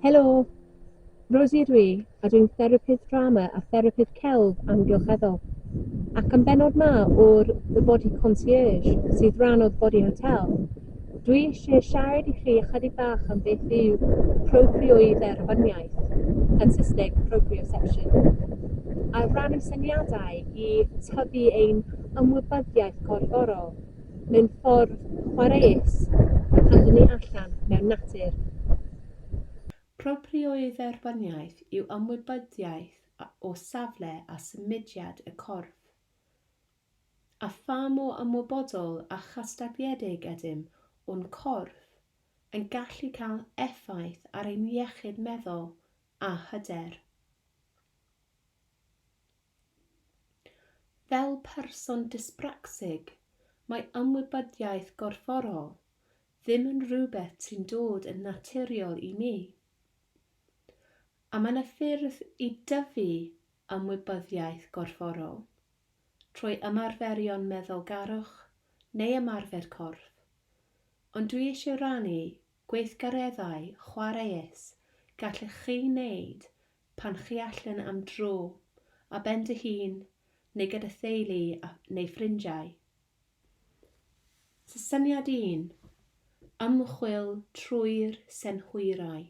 Helo, Rosie ydw i, a dwi'n therapydd drama a therapydd celf amgylcheddol. Ac yn benod ma o'r The Body Concierge, sydd rhan o'r Body Hotel, Dwi eisiau siarad i chi ychydig bach am beth yw proprioedderbyniaeth, yn Saesneg proprioception, a rannu syniadau i tyfu ein ymwybyddiaeth gorfforol mewn ffordd chwaraeus pan dyn ni allan mewn natur. Proprioedderbyniaeth yw ymwybyddiaeth o safle a symudiad y corff. A pha mor ymwybodol a chystadleuedig ydym o'n corff yn gallu cael effaith ar ein iechyd meddwl a hyder? Fel person dyspracsig, mae ymwybyddiaeth gorfforol ddim yn rhywbeth sy'n dod yn naturiol i mi. A mae yna ffyrdd i dyfu ymwybyddiaeth gorfforol. trwy ymarferion meddylgarwch neu ymarfer corff, ond dwi eisiau rannu gweithgareddau chwaraeus gallech chi wneud pan chi allan am dro, ar ben dy hun neu gyda theulu neu ffrindiau. Syniad un, Ymchwil trwy'r synhwyrau.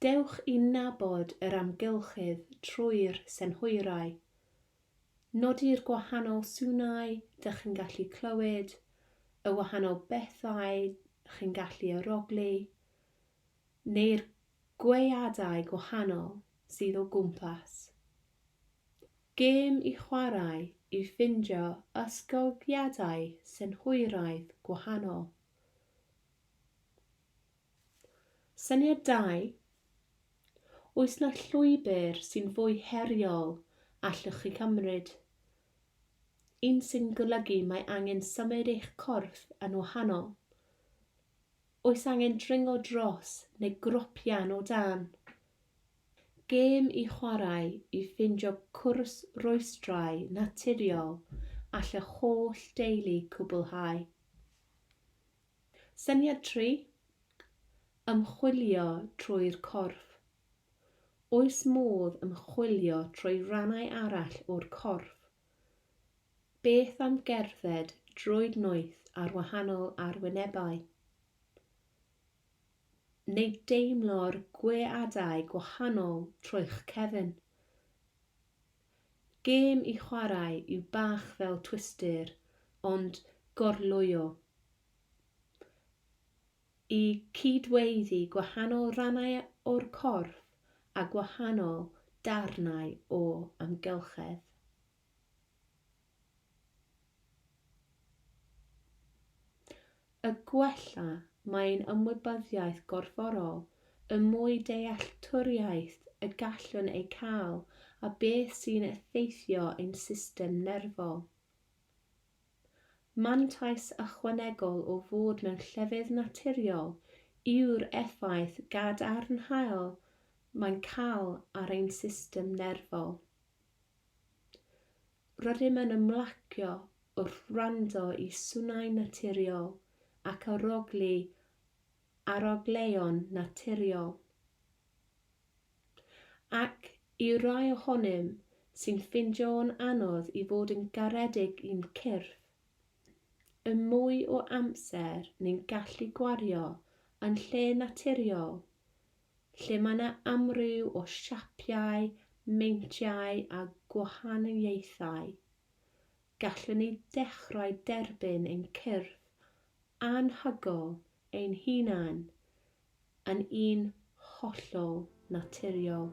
Dewch i nabod yr amgylchedd trwy'r synhwyrau. Nodi'r gwahanol swnau dych chi'n gallu clywed, y wahanol bethau chi'n gallu arogli, neu'r gweadau gwahanol sydd o gwmpas. Gêm i chwarae i ffindio ysgogiadau synhwyraidd gwahanol. Syniad da! Oes 'na llwybr sy'n fwy heriol allwch chi cymryd? Un sy'n golygu mae angen symud eich corff yn wahanol? Oes angen dringo dros neu gropian o dan? Gêm i chwarae i ffindio cwrs rwystrau naturiol all y holl deulu cwblhau. Syniad tri, Ymchwilio trwy'r corff. Oes modd ymchwilio trwy rannau arall o'r corff? Beth am gerdded drwy'r noeth ar wahanol arwynebau? Neu deimlo'r gweadau gwahanol trwy'ch cefn? Gêm i chwarae yw bach fel Twister ond gorlwyo i cyd-weiddi gwahanol rannau o'r corff a gwahanol darnau o amgylchedd. A gwella mae'n ymwybyddiaeth gorfforol, y mwy dealltwriaeth y gallwn ei cael a beth sy'n effeithio ein system nerfol. Mantais ychwanegol o fod mewn llefydd naturiol yw'r effaith gadarnhaol mae'n cael ar ein system nerfol. Rydym yn ymlacio wrth wrando i swnau naturiol ac arogli arogleion naturiol. Ac i rai ohonym sy'n ffeindio'n anodd i fod yn garedig i'n cyrff, y mwy o amser ni'n gallu gwario yn lle naturiol, lle mae yna amryw o siapiau, meintiau a gwahaniaethau, gallwn ni ddechrau derbyn ein cyrff anhygoel ein hunain yn un hollol naturiol.